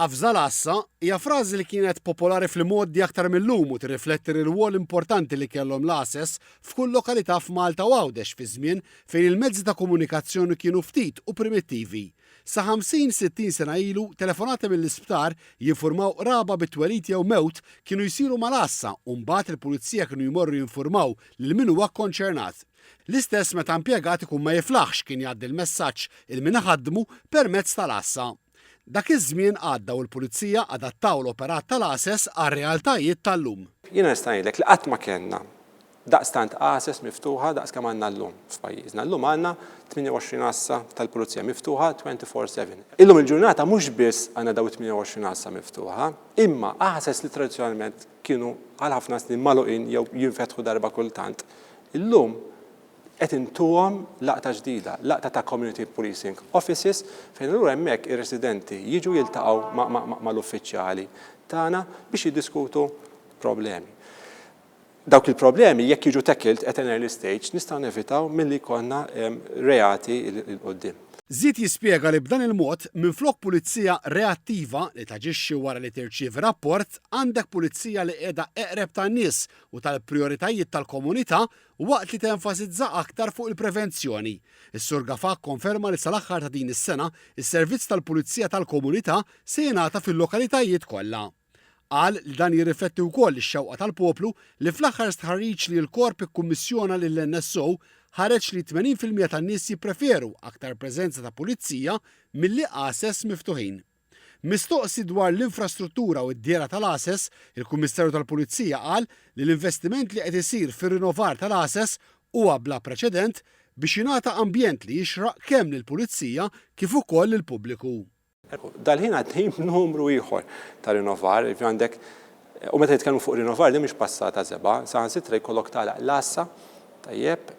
Qafża l-għassa hija frażi li kienet popolari fl-imgħoddi aktar mil-lum u tirrifletti r-rwol importanti li kellhom l-għases f'kull lokalità f'Malta u Għawdex fi żmien fejn il-mezzi ta' komunikazzjoni kienu ftit u primittivi. Sa 50, 60 sena ilu, telefonati mill-isptar jinfurmaw qraba bi twelid jew mewt kienu jsiru mal-għassa u mbagħad il-pulizija kienu jmorru jinfurmaw lil min huwa kkonċernat. L-istess meta impjegat ikun ma jiflaħx kien jgħaddi l-messaġġ 'il min iħaddmu' permezz tal-għassa. Dak iż-żmien għadda u l-Pulizija adattaw l-operat tal-għases għar-realtajiet tal-lum. Jiena nista' ngħidlek li qatt ma kellna daqstant għases miftuħa daqs kemm għandna llum f'pajjiżna. Llum għandna 28 għassa tal-Pulizija miftuħa twenty four seven. Illum il-ġurnata mhux biss għandna dawn it-28 għassa miftuħa, imma għases li tradizzjonalment kienu għal ħafna snin magħluqin jew jinfetħu darba kultant, illum qed intuhom laqta ġdida, laqta ta' community policing offices fejn allura hemmhekk ir-residenti jiġu jiltaqgħu mal-uffiċjali tagħna biex jiddiskutu problemi. Dawk il-problemi jekk jiġu tackled at an early stage nistgħu nevitaw milli jkollna reati 'l quddiem. Żied jispjega li b'dan il-mod, minflok pulizija reattiva li taġixxi wara li tirċievi rapport, għandek pulizija li qiegħda eqreb tan-nies u tal-prijoritajiet tal-komunità waqt li tenfasizza aktar fuq il-prevenzjoni. Is-Sur Gafà kkonferma li sal-aħħar ta' din is-sena, is-servizz tal-pulizija tal-komunità se jingħata fil-lokalitajiet kollha. Qal li dan jirrifletti wkoll ix-xewqa tal-poplu li fl-aħħar stħarriġ li l-Korp ikkummissjona lill-NSO ħareġ li 80 fil-mija tan-nies jippreferu aktar preżenza ta' pulizija milli għases miftuħin. Mistoqsi dwar l-infrastruttura u d-dehra tal-għases, il-Kummissarju tal-Pulizija qal li l-investiment li qed isir fir-rinovar tal-għases huwa bla preċedent biex jingħata ambjent li jixraq kemm lill-pulizija kif ukoll lill-pubbliku. Dal-ħin għaddejjin b'numru ieħor ta' rinnovar, jiġifieri għandek u meta nitkellmu fuq rinnovar din mhix passata żebgħa, saħansitra jkollok tagħlaq l-għassa, tajjeb,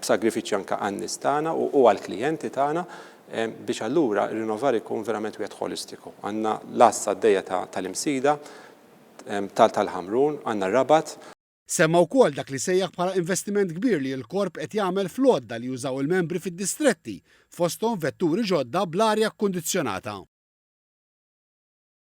b'sagrifiċċji anke għan-nies tagħna u għall-klijenti tagħna biex allura r-rinnovar ikun verament wieħed ħolistiku. Għandna l-għassa għaddejja tal-Imsida, tal-Ħamrun, għandna r-Rabat, Semma wkoll dak li sejjaħ bħala investiment kbir li l-Korp qed jagħmel fl-għodda li jużaw il-membri fid-distretti, fosthom vetturi ġodda bl-arja kkundizzjonata.